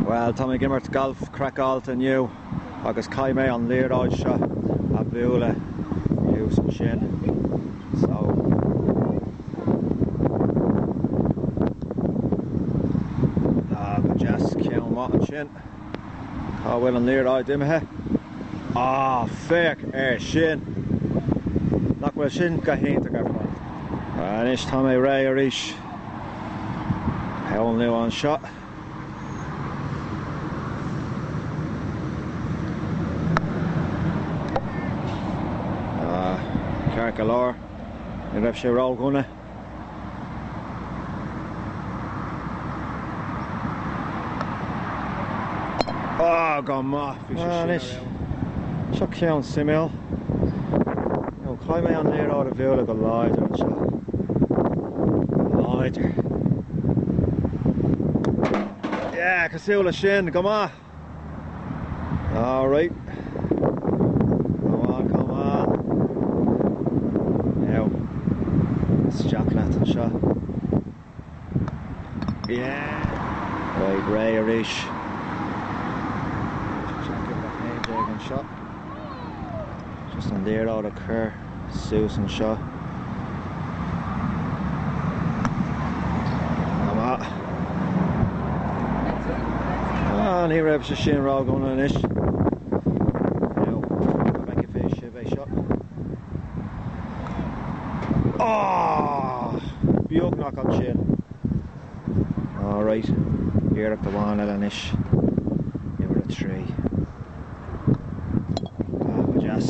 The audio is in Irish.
Bhuel, tá mé ag imirt gailf craiceáilte inniu agus caithfidh mé an liathróid seo a bhualadh thuas ansin. So. Ah, go deas, ceann maith ansin. Cá bhfuil an liathróid imithe? Ah, féach ar sin! Nach bhfuil sin go hiontach ar fad? Anois tá mé réidh arís. Aon lú anseo. Ceart go leor, ní raibh sé ródhona. Go maith, bhí sé sin. Seo ceann suimiúil, caithfidh mé an liathróid a bhualadh go láidir anseo. Go láidir. Yeah, cosúil le sin, go maith! All right. Come on, come on. Now, isteach leat anseo. Yeah. Right, réidh arís. Check it back 19 anseo. Just an liathróid a chur suas anseo. Ama. Ah, ní raibh sé sin ródhona anois. bheidh seo beagnach ansin. Alright, iarracht amháin eile anois, uimhir a trí. Ah, go deas.